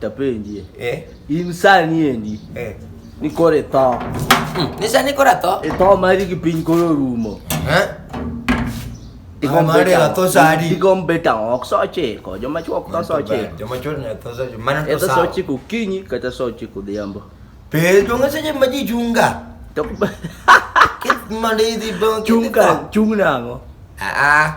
Tapenjie. Eh. In sani endi. Eh. Nikoro itho. Hmm. Ni sani koro atho? Itho mari gi piny koro rumo. Eh? Digombe tao ok so chiko, joma chuo ok tho so chiko. Joma chuo ne tho so chiko. Mana to so chiko kinyi kata so chiko dhiambo. Pe to ngase je maji chunga. To kit mali di bo chunga chunga ngo. Ah ah.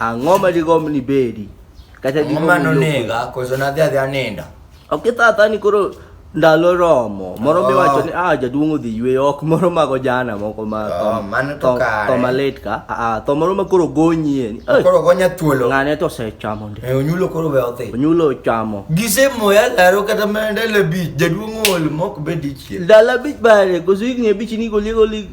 Ang'o ma digomb ni bedi? Kata Ang'o digomb ma ni lopni? nonega koso nadhi adhi aninda? Ok ithatha ni koro ndalo romo. Moro mi Oh. wacho ni ah jaduong' odhi yweyo ok moro mago jana moko ma Oh, mano to kare. to malit ka. Ah ah, to moro ma koro gonyie. ni, "Eh, Koro gonya thuolo. Ng'ane to osechamo ndi. Eh, Onyulo koro we odhi. Onyulo ochamo. Gisemoya laro kata mana ndalo abich, jaduong' ool mok bed dichiel. Dala bich bare, koso higni abich ni goliego lig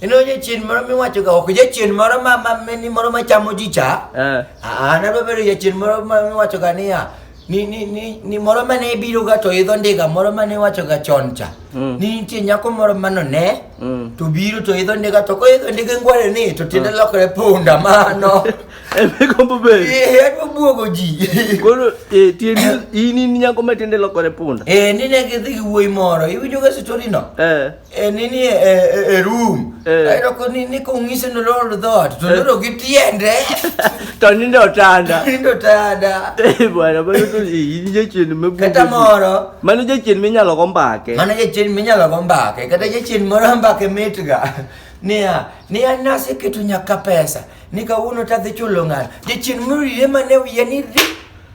Eno jachien moro miwacho ga ok jachien moro ma ma ni moro ma chamo ji cha. Eh. Ah, na bebe ri jachien moro ma miwacho ga niya. Ni ni ni ni moro ma ne biro ga to idho ndiga moro ma ne wacho ga chon cha. Mm. Ni nitie nyako moro ma no ne. Mm. To biro to idho ndiga to ko idho ndiga ngware ni to tiende mm. lokore punda mano. Ebe kombo be. Eh, ebe buogo ji. Koro eh tiende ini nyako ma tiende lokore punda. Eh, ni ne gidhi gi wuoyi moro. Iwinjo ga story no? Eh. e nini e, e, e room Eh. aero ko nini kong'ise nolor dhot to loro gi tiende to nindo otanda nindo tada Eh, bwana mano to iyi ni jachien kata mebunge moro mano jachien minyalo go mbake mano jachien minyalo go mbake kata jachien moro mbake mitga niya niya naseketo nyaka pesa ni kawuono tadhi chulo ng'ano jachien morire mane wiye ni ri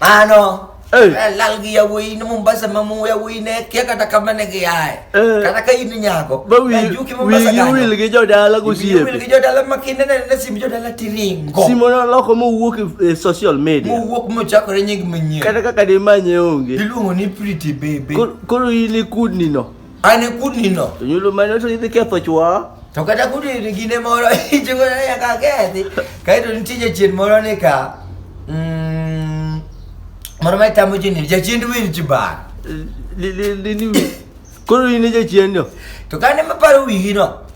Mano. Eh. Eh, lal gi yawuoyi ni Mombasa ma mu yawuoyi ne kia kata kama ne giaye. Eh. Kata ka in nyako. Ba wi juki Mombasa kanyo. Wi wil gi jodala gosiepe. Wi wil gi jodala ma kinde ne ne sim jodala tiringo. Simo no loko mo wuok e social media. Mo wuok mo chakore nying manyien. Kata kaka de manye onge. Iluongo ni pretty baby. Koro in ikudni no. An e kudnino. To nyulo mane to idhi ketho chwa. To kata kudni gine moro ichungo na ya kakethi. Kae to nitie jachien moro ni ka. Mm. Moro ma tamo jini jachien win chibar. Li li li ni. Koro in e jachien no. To kane maparo wigi no.